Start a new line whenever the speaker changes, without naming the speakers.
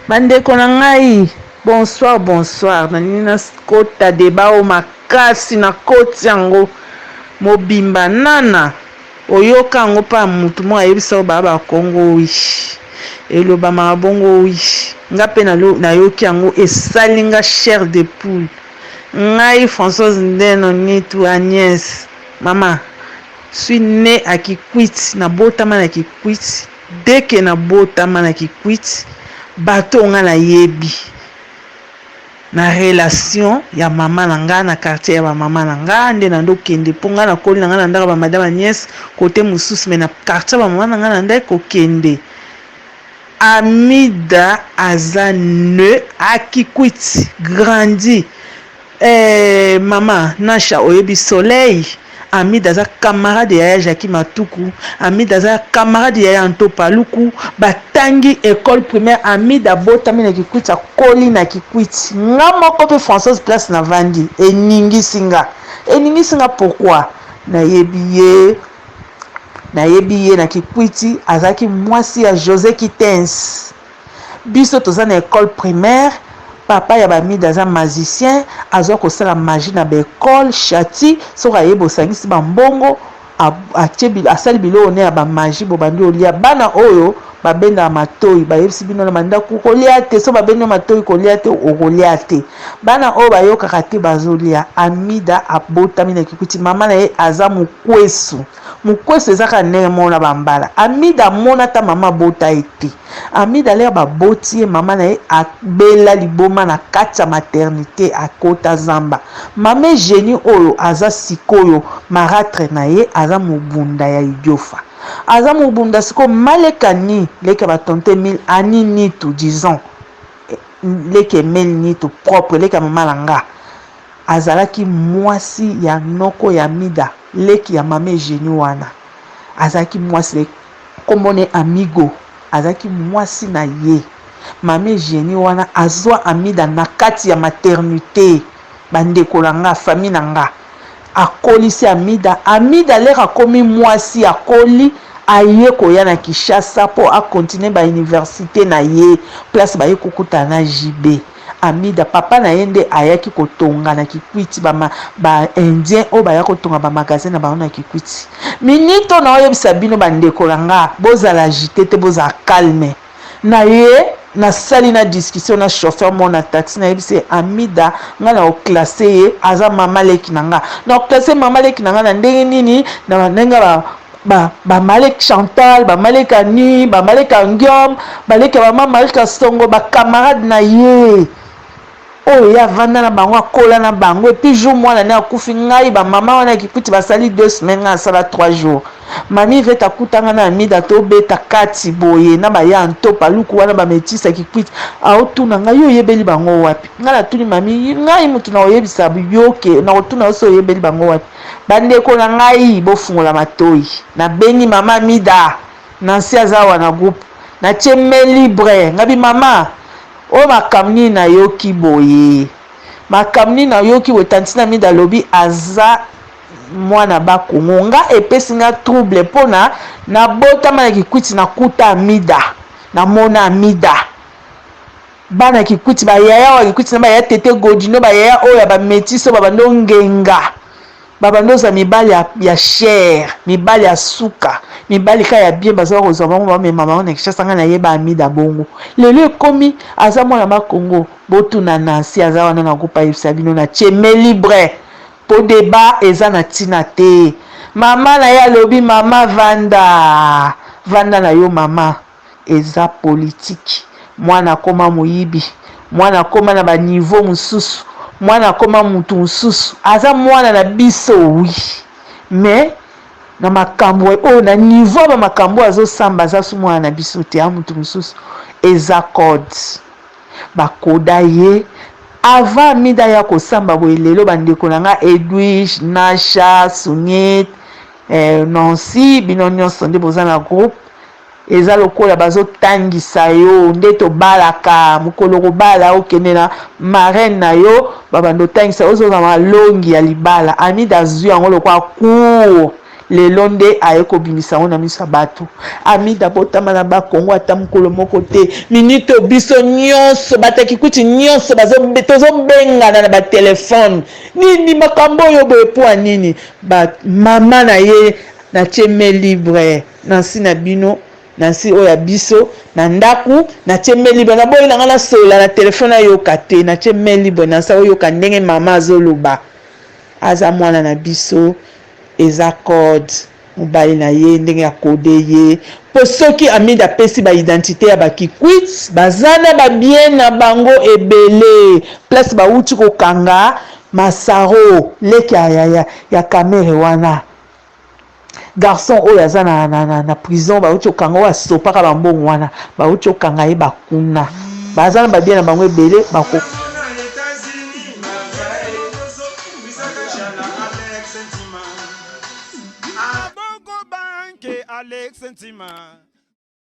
Ba ndeko na ngai bonsoir bonsoir na lingi na kota debat oyo makasi na koti yango mobimba nana oyoka yango pa mutu moko ayebisa yo ba ba kongo wish elobamaka bongo wish nga pe na yoki yango esali nga chair de poule ngai Françoise Ndeno Nitu Agnes mama suis ne à Kikwit na botama na Kikwit Dès que na botama na kikwit bato oyo nga na yebi na relation ya maman na nga na quartier ya ba maman na nga nde nando kende po nga na koli na nga na ndaka ba madame Agnes cote mosusu mais na quartier ya ba maman na nga na ndaki ko kende. Amida aza ne a kikwit grandi. Ehh maman Nasha oyebi soleil? Amida aza camarade ya yaya Jacquie Matuku, Amida aza camarade ya yaya Anto Paluku, ba tangi ecole primaire, Amida abotami na Kikwit akoli na Kikwit, nga moko pe Françoise place na vandi eningisi nga, eningisi nga pourquoi? Na yebi ye, na yebi ye na Kikwit azalaki mwasi ya Jose Kiten's. Biso toza na ecole primaire papa ya ba mida aza magicien azua kosala magie na ba ecole shati soki aye bosangisi ba mbongo atie asali biloko ne ya ba magie bobandi olia bana oyo babendaka matoyi bayebisi bino na mandaku kolia te so babendi yo matoyi kolia te okolia te bana oyo bayokaka te bazolia amida abotami na kikuiti mama na ye aza mokwesu Mukwesu eza kaka ndenge moko na ba mbala amida amona ata maman abota ye te amida lere ba boti ye maman na ye abela liboma na kati ya maternite akota zamba maman eugenie oyo aza sikoyo maratre na ye aza mobunda ya idiofa aza mobunda sikoyo mma leke anni leke ya ba tonton emile anni nitu disons leke emile nitu propre leke ya maman na nga Azalaki mwasi ya noko ya Mida, leki ya mama Eugenie wana azalaki mwasi na ye kombo ne Amigo azalaki mwasi na ye. Mama Eugenie wana azua Amida na kati ya maternite ba ndeko na nga famille na nga akolisi Amida. Amida lere akomi mwasi akoli aye koya na Kinshasa po a continuer ba universite na ye place baye kokutana na JB. Amida papa na ye nde ayaki ko tonga na kikwiti ba ba indiens oyo baya ko tonga ba magasin na bango na kikwiti minute oyo nao yebisa bino ba ndeko na nga bozala agite te bozala calme na ye na sali na discussion na chauffeur moko na taxi na yebisi ye Amida nga nao classe ye aza mama leki na nga nao classe mama leki na nga na ndenge nini na ndenge ba Ba ba malek Chantal, ba malek Anny, ba malek Angiom, ba leki ya maman Marie Kasongo, ba camarades na ye oyo ye avanda na bango, akola na bango et puis jour mwana ne akufi ngai ba maman wana ya kikwiti basali deux semaines ngai nasala trois jours. Mamie Ivette akuta ngai na Amida tobeta kati boye na ba ya Nto Paluku wana ba metisse ya kikwiti aotuna ngai yo oyebeli bango wapi? Ngai natuni mamie ngai mutu nakoyebisa yo ke nakotuna yo soki oyebeli bango wapi? Ba ndeko na ngai bofungola matoyi na bengi mama mida nancy aza awa na groupe na tie main libre ngabi mama oyo makambu nini na yoki boye makambu nini na yoki boye tantine amida alobi aza mwana ba kongo nga epesi nga trouble pona na botama na kikwiti na kuta amida na mona amida Bana kikwiti ba yaya wa kikwiti na ba yaya tete godino ba yaya oyo ya ba metis oyo babandi ongenga babandi ozala mibali ya, ya cher mibali ya suka mibali ka ya bien baza bakozwa bango bamema bango na kishasa ngai nayeba amida bongo lelo ekomi aza mwana ma congo botuna nansi aza wana na groupe ayebisa bino na cheme libre po deba eza na ntina te mama na ye alobi mama vanda vanda na yo mama Eza politique. Mwana akoma moyibi. Mwana akoma na ba niveau mususu. Mwana akoma mutu mususu. Aza mwana na biso oui. Mais na makambu oyo, na niveau ya ba makambu oyo azo samba aza su mwana na biso te. A mutu mususu. Eza code. Ba coda ye. Avant Amida aya ko samba boye lelo ba ndeko na nga Edwige, Nasha, Sunit, eh, Nancy bino nionso nde boza na groupe. Eza lokola bazo tangisa yo nde tobalaka mukolo okobala okende na marraine na yo ba banda otangisa yo oza malongi ya libala Amida azui yango lokola cour lelo nde aye kobimisa yango na miso ya batu Amida abotama na ba kongo ata mukolo moko te minute oyo biso nionso ba takikuti nionso bazo tozo bengana na ba telephone nini makambo oyo boye pua nini ba maman na ye na tie main libre. Na nsi na bino, na nsi oyo ya biso, na ndaku, na tie main libre, na boyi na nga na solola na telephone a yoka te, na tie main libre na nsa oyoka ndenge mama azo loba, aza mwana na biso, eza code, mobali na ye ndenge a code ye, po soki Hamid a pesi ba identite ya ba kikwit, baza na ba bien na bango ebele, place ba wuti ko kanga Massaro, leki ya, ya, ya, ya Kamerhe wana. Garçon oyo aza na, na, na, na prison bauti kokanga oyo asopaka bambongo wana bauti kokanga ye bakuna baza na babie na bango ebele bako
Alex Ntima